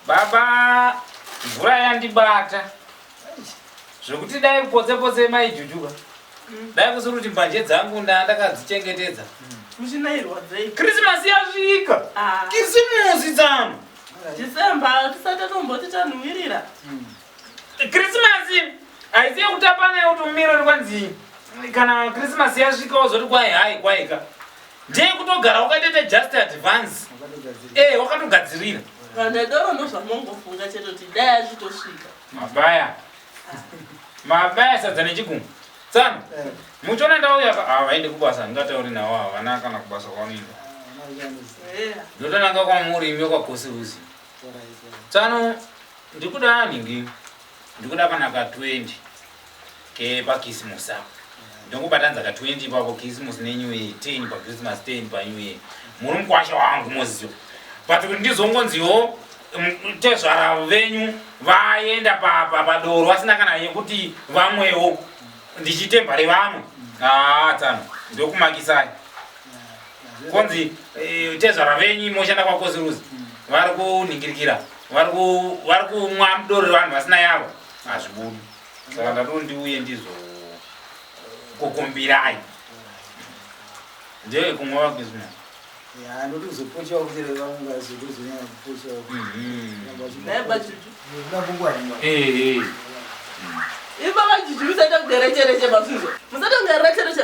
Baba mvura yandibata zvekuti dai kupotse potse mai jujuka mm. dai kusiri kuti mbanje dzangu nda ndakadzichengetedza krismasi mm. yasvika ah. kisimusi dzano december tisati tomboti tanhuwirira mm. Krisimasi haisi yekutapana yekuti umire uri kwanzi kana krisimasi yasvika wozoti kwai hai kwaika ndeye kutogara wakatoita just advance ee eh, wakatogadzirira kana doro ndozvamongofunga chete kuti dai azvitosvika mabaya mabaya sadza nechigungu tsano eh. muchiona ndauya havaende ah, kubasa ndingatauri navo havana kana kubasa kwanoinda eh. ndotonanga kwamuri imwe kwakosi uzi Tsano ndikuda nhingi ndikuda kana ka 20 kepakisimusi ako ndongobatanza ka 20 ipapo kisimusi nenew year 10 pachristmas 10 panew year muri mukwasha wangu moziva but kuti ndizongonziwo tezvara venyu vaenda padoro vasina kana yekuti vamwewo ndichitemba revamwe haa tsano ndokumakisai konzi eh, tezvara venyu moshanda kwakoziruzi mm. vari kunhingirikira vari kumwa mudoro revanhu vasina yavo hazvibudi saka ndatono ndiuye ndizo kukumbirai ndee kumwa vakuizvina anoti kuzopochewa kutere vaungazotozonyanya kupochewa ipapajuju musaita kuderechereche masuzo musaita kuderechereche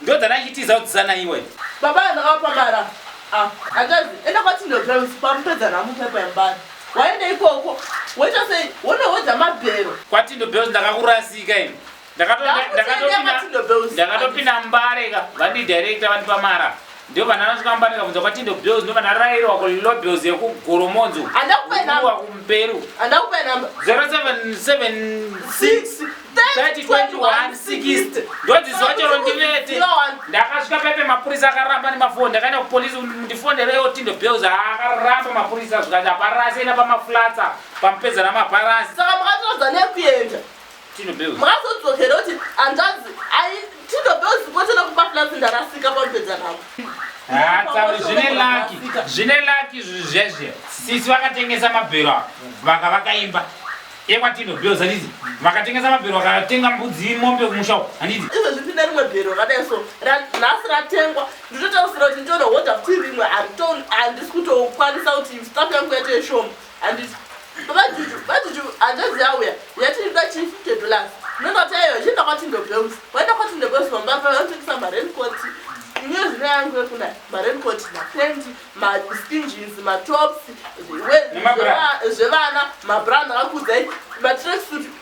Ndodzana achitiza kudzisana iwe. Baba ndakapa mara. Ah, akazi enda kwa Tindo Drums kwamupedza namu pepa yambara. Waenda ikoko. Woita sei? Wonowedza mabhero. Kwa Tindo Bells ndakakurasika ini. Ndakatopinda ndakatopinda ndakatopinda mbare ka. Vandi director vandipa mara. Ndio vana vanokambanika kunza kwa Tindo Bills ndio vana rairo wako Lilo Bills ya kugoromonzo. Anda kupe namba. Wa kumperu. Anda kupe namba. 0776 302160 ndodzizochero ndivete ndakasvika pepe mapurisa akaramba nemafoni ndakaenda kupolisi ndifonderewo tindo bills akaramba mapurisa zvikati aparasi enda pamaflatsa pamupedza namaparasi saka makatorodza nekuenda Tino Bells. Mwazodzokera kuti hanzvadzi ai Tino Bells kwotona kupa plus ndarasika pamupedza navo. Ah, tsauri zvine lucky. Zvine lucky izvi zvezve. Sisi vakatengesa mabhero ava. Vaka vakaimba. Ekwa Tino Bells handizi. Vakatengesa mabhero vakatenga mbudzi mombe kumusha uko. Handizi. Izvezvi ndine rimwe bhero rakadai so ra- nhasi ratengwa ndinotarisira kuti nditoda hodha kuti rimwe handito- handisi kutokwanisa kuti staff yangu yaite shoma Handiti. Baba Juju, baba Juju, hanzvadzi yauya yati iri kuda chii fifty dollars. Ndinoti eyo chienda kwaTindo Bells. Waenda kwaTindo Bells vamba apa vanotengesa maraincoat. Inini zita yangu yekuna maraincoat, mapenti, maskin jeans, matops, we- Nemabra. zveva- zvevana, mabra ndakakuudzai, matracksuit,